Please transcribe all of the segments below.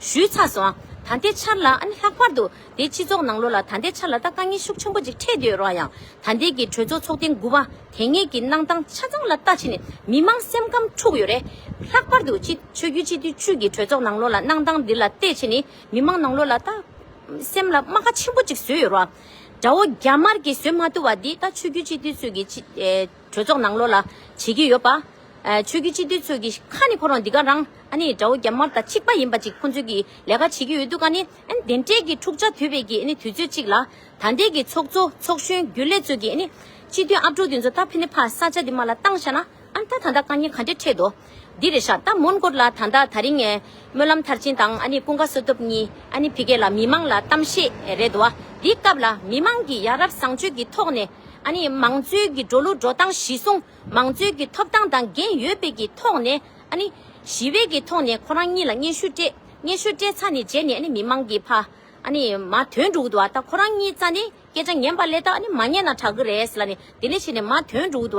ཞུས་ཚར་སོང། ད་ལྟའི་ཆར་ལ་ཨ་ནི་ལྷག་པར་དུ་དེའི་སྤྱི་ཚོགས་ནང་ལོ་ལ་ད་ལྟའི་ཆར་ལ་ད་དཀའ་ངལ་ཤུགས་ཆེན་པོ་ཅིག་འཕྲད་འདོད་རོགས་ཡང་ད་ལྟའི་གི་གྲོས་ཚོགས་ཚོགས་ཐེངས་དགུ་པ་དེ་ངེད་ཀྱི་གནང་སྟངས་ཆ་ཚང་ལ་ལྟ་ཕྱིན་ནས་མི་མང་སེམས་ཁམས་འཁྲུགས་ཡོད་རེད། ལྷག་པར་དུ་སྤྱི་ཆོས་རྒྱུད་སྤྱི་འཐུས་ཅུས་ཀྱི་གྲོས་ཚོགས་ནང་ལོ་ལ་གནང་སྟངས་འདི་ལ་ལྟས་ཕྱིན་ནི་མི་མང་ནང་ལོ་ལ་ད་སེམས་ལ་རྨ་ཁ་ཆེན་པོ་ཅིག་བཟོས་ཡོད་རོགས། དགྲ་བོ་རྒྱ་དམར་གྱིས་བཟོས་མ་ཐུབ་བ་འདི་ད་ཆོས་རྒྱུད་སྤྱི་འཐུས་ཚོས་ཀྱི་སྤྱི། གྲོས་ཚོགས་ནང་ལོགས་ལ་བྱེད་ཀྱི་ཡོད་པ། ཆོས་རྒྱུད་སྤྱི་འཐུས་ཚོས་ཀྱི་ཁ་ནས་ཁོ་རང་འདི་ག་རང་ཨ་ནི་དགྲ་བོ་རྒྱ་དམར་དང་ཆིག་པ་ཡིན་པ་ཅིག་ཁོང་ཚོས་ཀྱི་ལས་ཀ་བྱེད་ཀྱི་ཡོད་འདུག་ག་ནི་ཨ་ནི་དེ་འདྲས་ཀྱི་འཁྲུག་ཆ་དོད་པའི་ཀྱི་ཨ་ནི་དུས་ཚོད་ཅིག་ལ་ད་འདྲས་ཀྱི་ཚོགས་གཙོ་ཚོགས་གཞོན་རྒྱུན་ལས་ཚོས་ཀྱི་ཨ་ནི་སྤྱི་འཐུས་ཨ་ཕྲུག་དེ་ཚོ་ད་ཕི་ནི་ཕ་ས་ཆ་དེ་མ་ལ་བཏང་ཤ་ན་ཨ་ནི་ད་ད་ལྟ་དཀའ་ཉེ་ག་འདྲས་འཕྲད་དོ། འདི་རེད་ཤག་ད་མོན་གོར་ལ་ད་ལྟ་ད་རིང་སྨོན་ལམ་མཐར་ཕྱིན་དང་ཨ་ནི་ཀུན་དགའ་བསོད་སྟོབས་གཉིས་ཨ་ནི་བྷི་གས་ལ་མི་མང་ལ་གཏམ་བཤད་རེད་དོ་འདི་སྐབས་ལ་མི་མང་གི་ཡ་རབས་བཟང་སྤྱོད་ཀྱི་ཐོག་ནས་ཨ་ནི་མང་གཙོའི་གི་འགྲོ་ལུགས་འགྲོ་སྟངས་གཞི་སྲུང་མང་གཙོའི་གི་ཐོབ་ཐང་དང་འགན་ཡོད་པའི་གི་ཐོག་ནས་ཨ་ནི་ཞི་བའི་གི་ཐོག་ནས་ཁོ་རང་གཉིས་ལ་སྙན་ཞུ་སྤྲད་སྙན་ཞུ་སྤྲད་ཚ་ནི་རྗེས་ནས་ཨ་ནི་མི་མང་གི་ཕ་ཨ་ནི་མ་དོན་འགྲུག་དོ་ད་ཁོ་རང་གཉིས་རྩ་ནས་སྐད་ཆ་ངན་པ་ལས་ད་ཨ་ནི་མ་ཉན་ན་དྲག་གི་རེད་ལ་ནི་དེ་ལས་ཕྱི་ནས་མ་དོན་འགྲུག་དོ་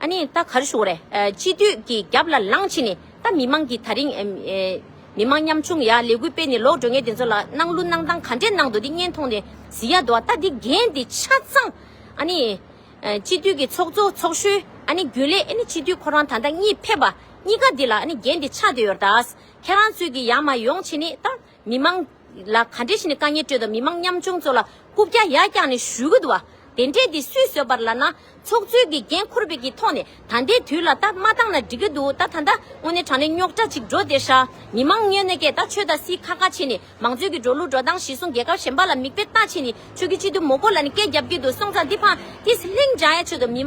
ཨ་ནི་ད་གར་བཞུགས་རེད། སྤྱི་འཐུས་ཀྱི་རྒྱབ་ལ་ལངས་ཕྱིན་ནས་ད་མི་མང་གིས་ད་རིང། མི་མང་ཉམ་ཆུང་ཡ་ལས་གུས་སྤེ་ནས་ལོག་འགྲོ་ངས་དེ་ཚོ་ལ་གནང་ལུགས་གནང་སྟངས་ག་འདྲའི་གནང་འདུག་དེ་བརྙན་མཐོང་ནས་ཟི་ཡ་འདུག་ཨ་ད་དེ་འགན་དེ་ཆ་ཚང། ཨ་ནི། སྤྱི་འཐུས་ཀྱི་ཚོགས་གཙོ་ཚོགས་གཞོན་ཨ་ནི་རྒྱུན་ལས་ཨ་ནི་སྤྱི་འཐུས་ཁོ་རང་ད་ལྟ་གཉིས་ཕེབས་པ་གཉིས་ཀ་དེ་ལ་ཨ་ནི་འགན་དེ་ཆ་དེ་ཡོད་ད། ཁྱེད་རང་ཚོས་ཀྱིས་ཡང་མ་ཡོང་ཕྱིན་ནས་ད། མི་མང། ལ་ག་འདྲའི་ཞིག་ནས་དཀའ་ངལ་སྤྲོད་དང་མི་མང་ཉམ་ཆུང་ཚོ་ལ་རྐུབ་བཀྱག་ཡ་བཀྱག་ནས་བཞུ་གི་འདུག་བ། དེ་འདྲས་དེ་སུས་བཟོད་པར་ལ་ན། ཚོགས་གཙོའི་དགེ་རྒན་འཁོར་བའི་གི་ཐོག་ནས་ད་ལྟའི་དུས་ལ་ད་མ་བཏང་ན་འགྲིག་གི་འདུག་ད་ད་ལྟ་དངོས་གནས་དྲང་གནས་རྙོག་དྲ་ཅིག་འགྲོ་དེ་ཧྲ། མི་མང་སྙོན་ནས་ཀས་ད་ཆོས་ད་སི་ཁ་ཁ་བྱས་ནས་མང་གཙོའི་གི་འགྲོ་ལུགས་འགྲོ་སྟངས་གཞི་སྲུང་རྒྱལ་ཁབ་གཞན་པ་ལ་མིག་དཔེ་ལྟ་བྱས་ནས་ཆོས་གི་སྤྱི་འཐུས་མོ་ཀོ་ལ་ནས་སྐད་རྒྱབ་གི་འདུག་སོང་ཙང་དེ་ཕང་དེ་སི་ལྷིང་འཇང་ཡ་ཆོས་ད་མི།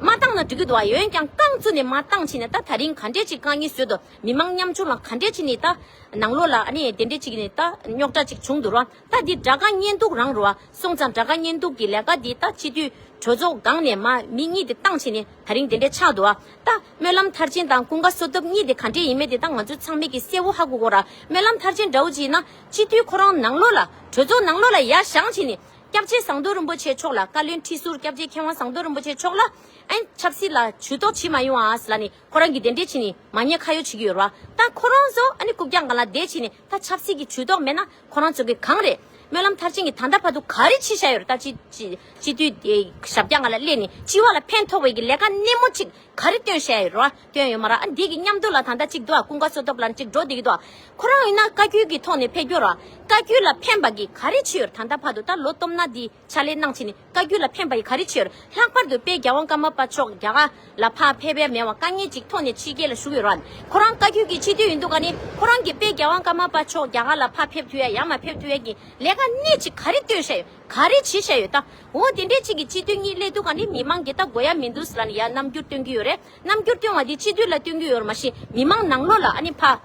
མ་བཏང་ན་འགྲིག་གི་འདུག་བ་ཡོན་ཀྱང་རྐང་བཙུགས་ནས་མ་བཏང་ཕྱིན་ན་ད་ད་རིང་ག་འདྲས་ཅིག་དཀའ་ངལ་བཟོད་དོ། མི་མང་ཉམ་ཆུང་ལ་ག་འདྲས་བྱས་ནས་ད། ནང་ལོག་ལ་ཨ་ནི་དེ་འདྲས་བྱས་ནས་ད་རྙོག་དྲ་ཅིག་བྱུང་འདུག་ར་ད་འདི་དགྲ་དགའ་གཉེན་སྡུག་རང་རུ་ཨ་སོང་ཙང་དགྲ་དགའ་གཉེན་སྡུག་གི་ལས་ཀ་འདི་ད་སྤྱི་འཐུས་གྲོས་ཚོགས་སྒང་ནས་མ་མི་གཉིས་དེ་བཏང་བྱས་ནས་ད་རིང་དེ་འདྲས་ཆགས་འདུག་ཨ་ད་སྨོན་ལམ་མཐར་ཕྱིན་དང་ཀུན་དགའ་བསོད་སྟོབས་གཉིས་དེ་ག་འདྲས་ཡིན་མེད་དེ་ད་ང་ཚོས་ཚང་མེད་ཀི་གསལ་བོ་ཧ་གོ་གོ་ར་སྨོན་ལམ་མཐར་ཕྱིན་དགྲ་བོ་ཅིག་ཡིན་ན་སྤྱི་འཐུས་ཁོ་རང་ནང་ལོག་ལ་གྲོས་ཚོགས་ནང་ལོག་ལ་ཡ་བཞང་བྱས་ནས་སྐྱབས་རྗེ་ཟངས་མདོག་རིན་པོ་ཆེ་མཆོག་ལ་བཀའ་བློན་ཁྲི་ཟུར་སྐྱབས་རྗེ་མཁས་དབང་ཟངས་མདོག་རིན་པོ་ཆེ་མཆོག་ལ་ཨན་ཆབ་སྲིད་ལ་ཇུས་གཏོགས་བྱེད་མ་ཡོང་ཨ་ཟ་ལ་ནི་ཁོ་རང་གིས་དེ་འདྲས་བྱས་ནས་མ་ཉེས་ཁ་ཡོག་བྱེད་ཀྱི་ཡོད་ར་ད་ཁོ་རང་ཚོ་ཨ་ནི་རྐུབ་བཀྱག་འགའ་ལ་བསྡད་བྱས་ནས་ད་ཆབ་སྲིད་ཀྱི་བྱུས་གཏོགས་མེད་ན་ཁོ་རང་ཚོ་གི་གང་རེད་སྨོན་ལམ་མཐར་ཕྱིན་གྱི་ད་ལྟ་བར་དུ་ག་རེ་བྱས་བཞག་ཡོད་ར་ད་སྤྱི་སྤྱི་འཐུས་དེ་ཞབས་བཀྱག་འགའ་ལ་སླེབས་ནས་སྤྱི་བ་ལ་ཕན་ཐོག་བའི་གི་ལས་ཀ་སྣེ་མོ་ཅིག་ག་རེ་བཏོན་བཞག་ཡོད་ར་བཏོན་ཡོད་མ་ར་ཨ་འདི་གི་མཉམ་དུ་ལ་ད་ལྟ་ཅིག་འདུག་ཨ་ཀུན་དགའ་བསོ་སྟོབས་ལ་ཅིག་འགྲོ་བསྡད་ཀྱི་འདུག་ཨ་ཁོ་རང་ཡིན་ན་བཀའ་བརྒྱུད་ཀྱི་ཐོག་ནས་ཕེབས་རྒྱུ་ར་བཀའ་བརྒྱུད་ལ་ཕན་པ་གི་ག་རེ་བྱས་ཡོད་ར་ད་ལྟ་བར་དུ་ད་ལོ་སྟོབས་ན་འདི། ཕྱག་ལས་གནང་བྱེད་ནི་བཀའ་རྒྱུད་ལ་ཕན་པ་ཡི་ག་རེ་ཆོས། ལྷག་པར་དུ་དཔལ་རྒྱ་དབང་བཀའ་མ་པ་མཆོག་རྒྱ་གར་ལ་ཕ་ཕེ་བྷེ་མེ་བ་བཀའ་ཉེ་གཅིག་ཐོག་ནས་ཕྱི་རྒྱལ་ལ་བཞུགས་ཡོད་ར། ཁོ་རང་བཀའ་རྒྱུད་ཀྱི་ཕྱི་དུས་ཡིན་འདུག་ག་ནི་ཁོ་རང་གིས་དཔལ་རྒྱ་དབང་བཀའ་མ་པ་མཆོག་རྒྱ་གར་ལ་ཕ་ཕེབས་དུས་ཡ་ཡང་མ་ཕེབས་དུས་ཡན་གྱི་ལས་ཀ་སྣེ་གཅིག་ག་རེ་སྟོན་བཤད་ཡོད་ག་རེ་བྱེད་བཤད་ཡོད་ད། འོ་དེ་འདྲའི་གཅིག་གི་ཕྱི་དུས་གཉིས་སླེ་འདུག་ག་ནི་མི་མང་འགས་ད་དགོས་ཡ་མི་འདུག་སི་ལ་ནི་ཡ་རྣམ་འགྱུར་སྟོན་གྱི་ཡོད་རེད། རྣམ་འགྱུར་སྟོན་བ་འདི་སྤྱི་འཐུས་ལ་སྟོན་རྒྱུ་ཡོད་ར་མ་ཤེས་མི་མང་ནང་ལོག་ལ་ཨ་ནི་ཕ།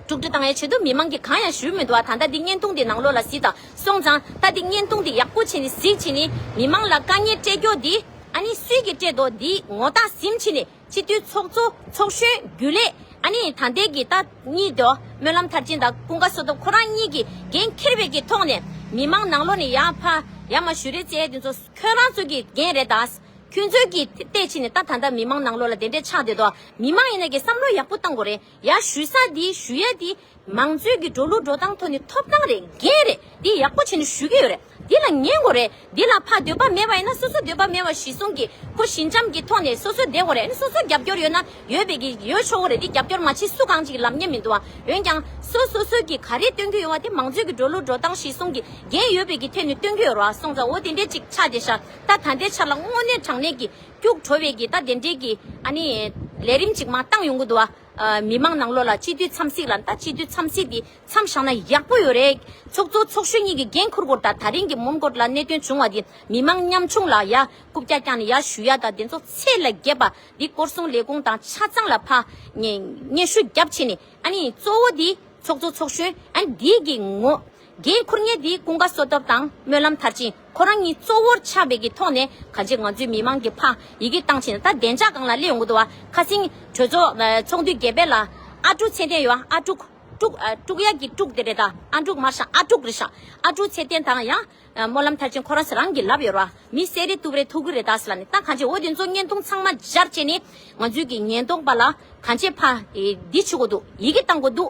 དཀྲུག་དཀྲི་བཏང་ཡ་བྱེད་དུ་མི་མང་གི་གང་ཡང་ཞུ་མི་འདུག་ཨ་ད་ལྟ་འདི་བརྙན་ཐུང་འདི་ནང་ལོག་ལ་བཟི་དང་སོང་ཙང་ད་འདི་བརྙན་ཐུང་འདི་ཡག་པོ་བྱེད་ནི་གཟིགས་བྱེད་ནི་མི་མང་ལ་དཀའ་ཉེར་སྤྲད་རྒྱོ་འདི་ཨ་ནི་སུས་ཀྱི་སྤྲད་དོ་འདི་ངོ་ད་གཟིམ་བྱེད་ནི་སྤྱི་འཐུས་ཚོགས་གཙོ་ཚོགས་གཞོན་རྒྱུ་ལས་ཨ་ནི་ད་འདས་གི་ད་གཉིས་དོ་སྨོན་ལམ་མཐར་ཕྱིན་དང་ཀུན་དགའ་བསོ་དོ་ཁོ་རང་གཉིས་ཀྱི་འགན་ཁྱེར་བའི་གི་ཐོག་ནས་མི་མང་ནང་ལོག་ནི་ཡ་ཕ་ཡ་མ་ཞུ་རེད་ཙེ་འདི་ཚོ་ཁྱོད་རང་ཚོ་གི་འགན་རེད་ད། ཁྱོད་ཚོའི་གིས་ཐེ་བལྟས་ཕྱིན་ནས་ད་ད་འདྲ་མི་མང་ནང་ལོག་ལ་དེ་འདྲས་ཆགས་བསྡད་དོ། མི་མང་ཡིན་ན་གིས་བསམ་བློ་ཡག་པོ་བཏང་གོ་རེ་ཡ་ཞུས་ས་འདི་ཞུས་ཡ་འདི། མང་གཙོའི་གིས་འགྲོ་ལུགས་འགྲོ་སྟངས་ཐོ་ནི་ཐོབ་སྟངས་རེད་འགན་རེད་འདི་ཡག་པོ་བྱེད་ནི་ཞུ་གི་ཡོད་རེད་འདི་ལ་ཉན་གོ་རེ་འདི་ལ་ཕ་འདོད་པ་མེད་པ་ཡིན་ན་སོ་སོ་འདོད་པ་མེད་པ་ཞིག་གསུང་གིས་ཁོ་ཞི་འཇམ་གིས་ཐོག་ནས་སོ་སོ་བསྡད་གོ་རེ་ཨ་ནི་སོ་སོ་རྒྱབ་སྐྱོར་ཡོད་ན་ཡོད་པའི་གིས་ཡོད་ཆོག་གོ་རེ་འདི་རྒྱབ་སྐྱོར་མ་བྱེད་སུ་གང་གཅིག་ལབ་ཉན་མི་འདུག་ཨ་འོན་ཀྱང་སོ་སོ་སོས་གིས་ག་རེ་སྟོན་གི་ཡོད་བ་དེ་མང་གཙོའི་གིས་འགྲོ་ལུགས་འགྲོ་སྟངས་ཞིག་གསུང་གིས་འགན་ཡོད་པའི་གིས་ཐད་ནས་སྟོན་གི་ཡོད་རོ་ཨ་སོང་ཙང་འོ་དེ་འདྲས་ཅིག་ཆགས་བསྡད་ཤག་ད་ད་ལྟའི་ཆར་ལ་དངོས་གནས་དྲང་གནས་ཀྱི་སྐྱུག་བྲོ་བའི་གི་ད་དེ་འདྲའི་གི་ཨ་ནི་ལས་རིམ་ཅིག་མ་བཏང་ཡོང་གི་འདུག་ཨ། མི་མང་ནང་ལོགས་ལ་སྤྱི་འཐུས་འཚམས་གཟིགས་ལ་ད་སྤྱི་འཐུས་འཚམས་གཟིགས་དེ་འཚམས་བཞག་ན་ཡག་པོ་ཡོད་རེད། ཚོགས་གཙོ་ཚོགས་གཞོན་གཉིས་ཀྱི་འགན་འཁུར་སྐོར་ད་ད་རིང་གི་མོན་གྷོ་ལ་གནད་དོན་བྱུང་བ་དེ་མི་མང་ཉམས་ཆུང་ལ་ཡ་རྐུབ་ཀྱག་ཀྱག་ནས་ཡ་ཞུ་ཡ་ད་དེ་ཚོ་ཚད་ལ་རྒྱས་པ་དེ་སྐོར་སོང་ལས་ཁུངས་དང་ཆ་ཚང་ལ་ཕ། སྙན་ཞུ་རྒྱབ་ཆེ་ནས་ཨ་ནི་གཙོ་བོ་དེ་ཚོགས་གཙོ་ཚོགས་གཞོན་ཨ་ནི་དེའི་གི་ངོ། འགན་འཁུར་ཉེས་འདིའི་ཀུན་དགའ་གསོ་ཐབས་དང་སྨོན་ལམ་མཐར་ཕྱིན་ཁོ་རང་གཉིས་གཙོ་བོར་ཆགས་པའི་གི་ཐོག་ནས་ག་ཅེ་ང་ཚོའི་མི་མང་གི་ཕ་ཡི་གི་བཏང་ཕྱིན་ད་བདེ་འཇགས་གང་ལ་སླེ་ཡོང་གི་འདུག་བ་ཁ་སིང་གྲོས་ཚོགས་འདུས་རྒྱལ་དཔལ་ལ། ཨ་ཀྲུག་ཚེ་བརྟན་ཡོད་ཨ་ཀྲུག། ཀྲུག་ཀྲུག་ཡ་གི་ཀྲུག་དེ་རེད་ད་ཨ་འབྲུག་མར་ཤང་ཨ་ཀྲུག་རེད་ཤག་ཨ་ཀྲུག་ཚེ་བརྟན་དང་ཡང། སྨོན་ལམ་མཐར་ཕྱིན་ཁོ་རང་ཚེ་རང་གི་ལབ་ཡོད་ར་བ་མི་གསལ་རེད་ཏུབ་རེད་ཐུག་གི་རེད་ད་སི་ལ་ནི་ད་ག་ཅེ་འོ་དེ་ཚོ་བརྙན་ཐུང་ཚང་མ་སྦྱར་བྱས་ནས་ང་ཚོའི་གི་ཉེན་རྟོག་པ་ལ་ག་ཅེ་ཕ་ཡི་འདི་བྱེད་གོ་འདུག་ཡི་གི་བཏང་གོ་འདུག་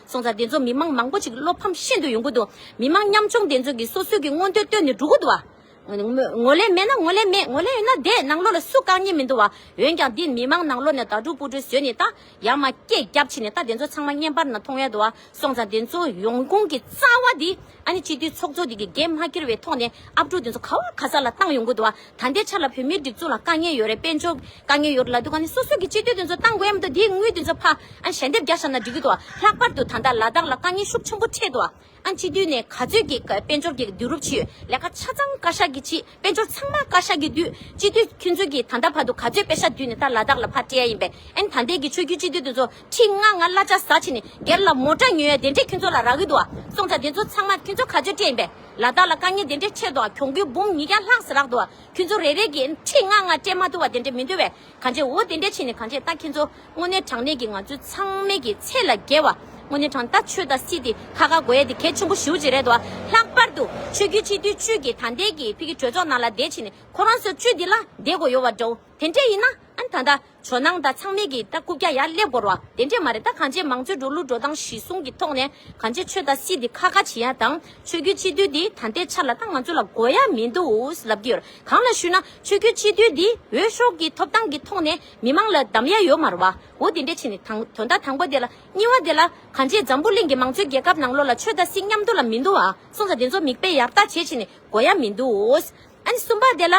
སོང་ཙང་དེ་ཚོ་མི་མང་མང་པོ་ཞིག་བློ་ཕམ་ཤིན་ཏུ་ཡོང་གི་འདུག་མི་མང་མཉམ་ཆུང་དེ་ཚོ་གིས་སོ་སོའི་གི་མངོན་འདོད་བཏོན་ནས་འགྲོ་གི་འདུག་བ། ངོ་ལེ་མེད་ན་ངོ་ལེ་མེད་ངོ་ལེ་ཡོད་ན་བསྡད་ནང་ལོག་ལ་སུ་བཀག་ཉེན་མི་འདུག་བ། འོན་ཀྱང་འདི་མི་མང་ནང་ལོག་ནས་དྭ་ཕྲུག་སྤུ་གྲུ་བཟོས་ནས་ད་ཡར་མ་སྐད་རྒྱབ་ཕྱིན་ནས་ད་དེ་ཚོ་ཚང་མ་བརྙན་པར་ནང་མཐོང་ཡ་འདུག་བ། སོང་ཙང་དེ་ཚོ་ཡོང་ཁུང་གི་རྩ་བ་དེ་ཨ་ནི་སྤྱི་འཐུས་ཚོགས་གཙོ་དེ་གི་འགན་མ་ཁྱེར་བའི་ཐོག་ནས་ཨབ་ཕྲུག་དེ་ཚོ་ག་བ་ག་ས་ལ་བཏང་ཡོང་གི་འདུག་བ། ད་ལྟའི་ཆར་ལ་བོད་མིའི་སྒྲིག་འཛུགས་ལ་དཀའ་ངལ་ཡོད་རེད་དཔལ་འབྱོར་དཀའ་ངལ་ཡོད་རེད་ལ་དུ་ག་ནས་སོ་སོ་གི་སྤྱི་འཐུས་དེ་ཚོ་གཏང་དགོས་ཡམ་དུ་དེའི་དངུལ་དེ་ཚོ་ཕ་ཨ་ཞལ་འདེབས་རྒྱག་ཤག་ན་འགྲིག་གི་འདུག་ལྷག་པར་དུ་ད་ལྟ་ལ་དྭགས་ལ་དཀའ་ངལ་ཤུགས་ཆེན་པོ་འཕྲད་འདུག་ཨ་སྤྱི་འཐུས་ནས་ག་ཚོད་ཀྱིས་དཔལ་འབྱོར་གྱི་དུས་རུབ་ཕྱིས་ལས་ཀ་ཆ་ཚང་བཀའ་ཤག་གི་ཕྱིས་དཔལ་འབྱོར་ཚང་མ་བཀའ་ཤག་གི་དུས་སྤྱི་འཐུས་ཁྱོད་ཚོ་གིས་ད་ལྟ་བར་དུ་ག་ཚོད་དཔེ་ཤག་དུས་ནས་ད་ལ་དྭགས་ལ་ཕ་སྤྲད་ཡ་ཡིན་པས་ཨན་ད་ལྟའི་གི་ཆོས་རྒྱུད་སྤྱི་འཐུས་དེ་ཚོ་ཁྲི་ལྔ་ང་གླ་ཆ་ཟ་ཕྱིས་ནས་སྒེར་ལ་མོ་ཏྲ་ཉོས་ཡ་དེ་འདྲས་ཁྱོད་ཚོ་ལ་རག་གི་འདུག་སོང་ཙང་དེ་ཚོ་ཚང་མ་ཁྱོད་ཚོ་ག་ཚོད་སྤྲད་ཡིན་པས། ལ་བདག་ལ་དཀའ་ཉེ་དེ་འདྲའི་ཆེ་དོ་གྱོང་གུད་འབུམ་ཉིས་བརྒྱ་ལྷག་སྲིད་རག་དོ་ཁྱོད་ཚོ་རེ་རེ་གིས་ཁྲི་ལྔ་ལྔ་སྤྲད་མ་ཐུབ་བ་དེ་འདྲས་མི་འདུ་བས་གང་བྱེད་འོ་དེ་འདྲས་བྱས་ནས་གང་བྱེད་ལྟ་ཁྱེད་ཚོ་དངོས་གནས་དྲང་གནས་ཀྱིས་ང་ཚོའི་ཚང་མེད་ཀྱི་ཚད་ལ་རྒྱལ་བ་དངོས་གནས་དྲང་ལྟ་ཆོས་དང་སྲིད་དེ་ཁ་ཁ་དགོ་ཡ་དེ་གལ་ཆེན་པོ་ཞིའུ་ཅི་རེད་དོ་ལྷག་པར་དུ་ཆོས་རྒྱུད་སྤྱི་འཐུས་བཅུ་གྱིས་ད་ལྟའི་གི་ཕི་གི་གྲོས་ཚོགས་ནང་ལ་བསྡད་ཕྱིན་ནས་ཁོ་རང་སོ་བཅུ་འདི་ལ་བསྡད་དགོས་ཡོད་བ་འདྲའོ་དེ་འདྲས་ཡིན་ན་ཨ་ད་ད། ཇོ་ནང་དང་ཚང་མས་ཀྱིས་ད་སྐུ་བརྒྱ་ཡར་སླེབས་དགོར་བ་དེ་འདྲས་མ་རེད་ད་གང་ཅེས་མང་གཙོའི་འགྲོ་ལུགས་འགྲོ་སྟངས་གཞི་བཟུང་གི་ཐོག་ནས་གང་ཅེས་ཆོས་དང་སྲིད་དེ་ཁ་ཁ་བྱེད་ཡ་དང་ཆོས་རྒྱུད་སྤྱི་འཐུས་འདི་ད་ལྟའི་ཆར་ལ་ད་ང་ཚོ་ལ་དགོས་ཡ་མིན་འདུག་ལབ་ཀྱི་ཡོད་གང་ལ་ཞུས་ན་ཆོས་རྒྱུད་སྤྱི་འཐུས་འདི་འོས་ཤོག་གི་ཐོབ་ཐང་གི་ཐོག་ནས་མི་མང་ལ་བདམས་ཡ་ཡོད་མ་རུ་བའོ་དེ་འདྲས་ཕྱིན་ནས་དང་དོན་དག་དང་པོ་དེ་ལ་གཉིས་བ་དེ་ལ་གང་ཅེས་འཛམ་བུ་གླིང་གི་མང་གཙོའི་རྒྱལ་ཁབ་ནང་ལོགས་ལ་ཆོས་དང་སྲིད་མཉམ་འདུ་ལ་མིན་འདུག་གསུངས་ས་དེ་ཚོ་མིག་དཔེ་ཡར་བལྟ་བྱེད་ཕྱིན་ནས་དགོས་ཡ་མིན་འདུག། ཨ་ནི་གསུམ་པ་དེ་ལ།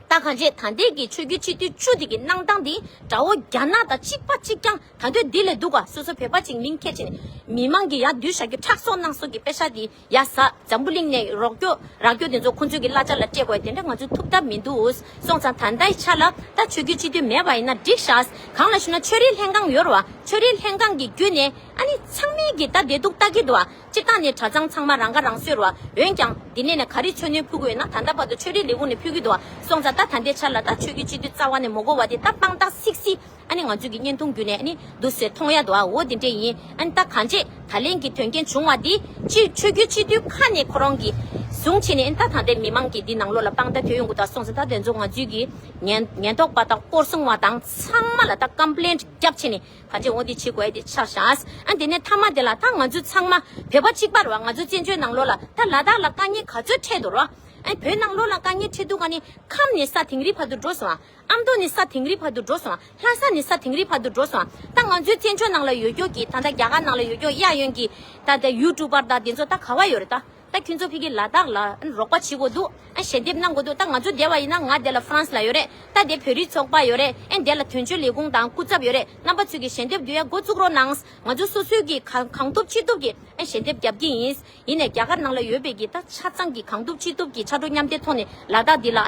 ད་གང་བྱེད་ད་འདས་ཀྱི་ཆོས་རྒྱུད་སྤྱི་འཐུས་བཅུ་དེ་གི་གནང་སྟངས་དེ་འདྲ་བོ་རྒྱ་ནག་དང་གཅིག་པ་གཅིག་རྐྱང་ད་འདོད་འདི་ལས་སྡུག་ག་སོ་སོ་བོད་པ་གཅིག་མིང་ཁས་ཆེ་ནས་མི་མང་གི་ཡག་འདུལ་བྱ་རྒྱུ་ཁྲག་གསོག་གནང་གསོག་གི་དཔེ་ཆ་དེ་ཡ་བཟའ་འཛམ་བུ་གླིང་ནས་རོགས་སྐྱོ་རག་སྐྱོ་དེ་ཚོ་ཁོང་ཚོའི་གི་གླ་ཆ་ལ་སྤྲད་དགོས་དེ་འདྲ་ང་ཚོའི་ཐུབ་ཐབས་མི་འདུག་སོང་ཙང་ད་འདའི་ཆ་ལ་ད་ཆོས་རྒྱུད་སྤྱི་འཐུས་མེད་པ་ཡིན་ན་འགྲིག་ཤགས་གང་ལ་ཞུ་ན་ཆོས་རིག་ལྷན་ཁང་ཡོར་བ་ཆོས་རིག་ལྷན་ཁང་གི་རྒྱུད་ནས་ཨ་ནི་ཚང་མའི་གི་ད་འདས་སྡུག་ལྟ་གི་འདུག་བ། སྤྱིར་བཏང་ནི་གྲྭ་ཚང་ཚང་མ་རང་ཁ་རང་གསོས་རོགས། འོན་ཀྱང། འདི་ནས་ནས་ག་རེ་ཆོས་སྣོད་ཕུལ་གི་ཡོད་ན་ད་ལྟ་བར་དུ་ཆོས་རིག་ལས་ཁུངས་ནས་ཕུལ་གི་འདུག་སོང་ཙང་ད་ད་འདས་ཆར་ལ་ད་ཆོས་རྒྱུད་སྤྱི་འཐུས་རྩ་བ་ནས་མོ་གོ་བ་དེ་ད་དཔང་རྟགས་སིག་སི་ཨ་ནི་ང་ཚོས་ཀྱི་བརྙན་ཐུང་བརྒྱུད་ནས་ཨ་ནི་འདུག་ཟེར་མཐོང་ཡ་འདུག་ཨ་འོ་དེ་འདྲས་ཡིན་ཨ་ནི་ད་གང་བྱས་ད་ལན་གྱི་དོན་རྐྱེན་བྱུང་བ་དེ་སྤྱི་ཆོས་རྒྱུད་སྤྱི་འཐུས་ཁ་ནས་ཁོ་རང་གི་བཟུང་བྱས་ནས་ཨ་ནི་ད་ད་འདས་མི་མང་གི་འདི་ནང་ལོག་ལ་དཔང་རྟགས་ཐོན་ཡོང་གི་འདུག་སོང་ཙང་ད་དེ་ཚོ་ང་ཚོས་ཀྱི་ཉན་ཉན་རྟོག་པ་དང་སྐོར་སྲུང་བ་དང་ཚང་མ་ལ་ད་ཀམ་པ་ལན་བརྒྱབ་བྱས་ནས། ད་རྗེས་འོང་དེ་ཕྱིས་གོ་ཨེ་དེ་ཆགས་བཞག། ཨ་དེ་ནས་ཐ་མ་དེ་ལ་ད་ང་ཚོས་ཚང་མ་བོད་པ་གཅིག་པར་བ་ང་ཚོ་བཙན་བྱོལ་ནང་ལོགས་ལ་ད་ལ་དྭགས་ལ་དཀའ་ངལ་ག་ཚོད་འཕྲད་འདུག་རོགས། ཨ་བོད་ནང་ལོགས་ལ་དཀའ་ངལ་འཕྲད་འདུག་ག་ནི་ཁམས་ནས་ས་དེང་རི་བར་དུ་འགྲོ་སོང་བ། ཨ་མདོ་ནས་ས་དེང་རི་བར་དུ་འགྲོ་སོང་བ་ལྷ་ས་ནས་ས་དེང་རི་བར་དུ་འགྲོ་སོང་བ་ད་ང་ཚོའི་བཙན་བྱོལ་ནང་ལ་ཡོད་སྐྱོར་གྱི་ད་ད་རྒྱ་གར་ནང་ལ་ཡོད་སྐྱོར་གཡག་ཡོན་གྱི་ད་ད YouTube པར་ད་དེ་ཚོ་ད་ག་བ་ཡོད་རེད་ད། ད་ཁྱོད་ཚོ་ཕི་གི་ལ་དྭགས་ལ་རོགས་པ་བྱེད་དགོས་འདུག་ཞལ་འདེབས་གནང་དགོས་འདུག་ད་ང་ཚོ་འདས་བ་ཡིན་ན་ང་འདས་ལ France ལ་ཡོད་རེད་ད་འདས་བོད་རིགས་ཚོགས་པ་ཡོད་རེད་འདས་ལ་དོན་གཅོད་ལས་ཁུངས་དང་སྐུ་ཚབ་ཡོད་རེད་རྣམ་པ་ཚོས་ཀྱི་ཞལ་འདེབས་འདུས་ཡ་འགོ་བཙུགས་རོགས་གནང་ང་ཚོ་སོ་སོས་ཀྱི་གང་ཐུབ་ཅི་ཐུབ་ཀྱི་ཞལ་འདེབས་རྒྱབ་ཀྱི་ཡིན་ཡིན་ནས་རྒྱ་གར་ནང་ལ་ཡོད་པའི་ཀྱི་ད་ཆ་ཚང་གི་གང་ཐུབ་ཅི་ཐུབ་ཀྱི་ཕྱག་དྲུག་མཉམ་སྡེབ་ཐོག་ནས་ལ་དྭགས་འདི་ལ་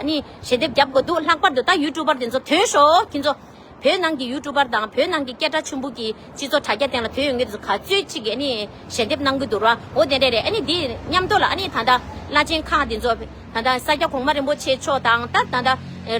ཞལ་འདེབས་རྒྱབ་དགོས་འདུག་ལྷག་པར་དུ་ད YouTube པར་དེ་ཚོ་དོན་ཞོ་ཁྱེད་ཚོ། བོད་ནང་གི་ཡུལ་གྲུ་པར་དང་བོད་ནང་གི་སྐད་གྲགས་ཆེན་པོ་གི་སྤྱི་ཚོགས་དྲ་རྒྱ་སྟེང་ལ་བོད་ཡུལ་དངོས་སུ་ག་ཚོད་ཅིག་གི་ཞལ་འདེབས་གནང་གི་འདུག་ར་འོ་དེ་འདྲ་རེད་ཨ་ནི་འདི་མཉམ་ཐོག་ལ་ཨ་ནི་ད་ལྟ་བླ་ཆེན་ཁག་འདི་ཚོ་ད་ལྟ་ས་སྐྱ་གོང་མ་རིན་པོ་ཆེ་མཆོག་དང་ད་ད་ད་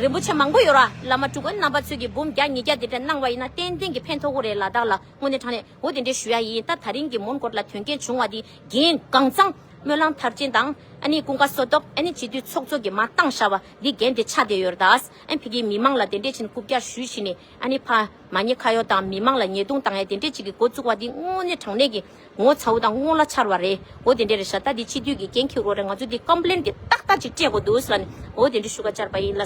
རིན་པོ་ཆེ་མང་པོ་ཡོད་ར་བླ་མ་ཕྲུ་གུ་རྣམ་པ་ཚོས་གི་འབུམ་བརྒྱ་ཉིས་བརྒྱ་དེ་འདྲ་གནང་བ་ཡིན་ན་ཏན་ཏན་གི་ཕན་ཐོག་གོ་རེད་ལ་བདག་ལ་དངོས་གནས་དྲང་གནས་འོ་དེ་འདྲ་ཞུ་ཡ་ཡིན་ད་ད་རིང་གི་མོན་གོར་ལ་དོན་རྐྱེན་བྱུང་བ་འདི་རྒན་གངས་ཚང་སྨོན་ལམ་མཐར་ཕྱིན་དང་ཨ་ནི་ཀུན་དགའ་སོ་ཏོག་ཨ་ནི་བྱིས་དུས་ཚོགས་གཙོ་གི་མ་བཏང་ཤ་བ་འདི་རྒན་དེ་ཆ་དེ་ཡོད་ར་ད། ཨན་བྷི་གིས་མི་མང་ལ་དེ་འདྲས་ཕྱིན་རྐུབ་བཀྱག་ཞུས་བྱས་ནས་ཨན་ནི་ཕ། མ་ཉེ་ཁ་ཡོག་དང་མི་མང་ལ་ཉེས་རྡུང་བཏང་ཡ་དེ་འདྲས་ཅིག་གི་འགོ་བཙུགས་བ་འདི་དངོས་གནས་དྲང་གནས་ཀྱི་ངོ་ཚ་བོ་དང་སྔོན་ལ་འཆར་བ་རེད་འོ་དེ་འདྲས་རེད་ཤ་ད་འདི་སྤྱི་འཐུས་ཀྱི་འགན་འཁྱེར་འོག་རེད་ང་ཚོ་འདི་ཀམ་པ་ལེན་དེ་ཏག་ཏག་ཅིག་སྤྲད་དགོས་འདུག་ཟེར་བ་ནས་འོ་དེ་འདྲས་ཞུ་ཁ་བཅར་བ་ཡིན་ལ།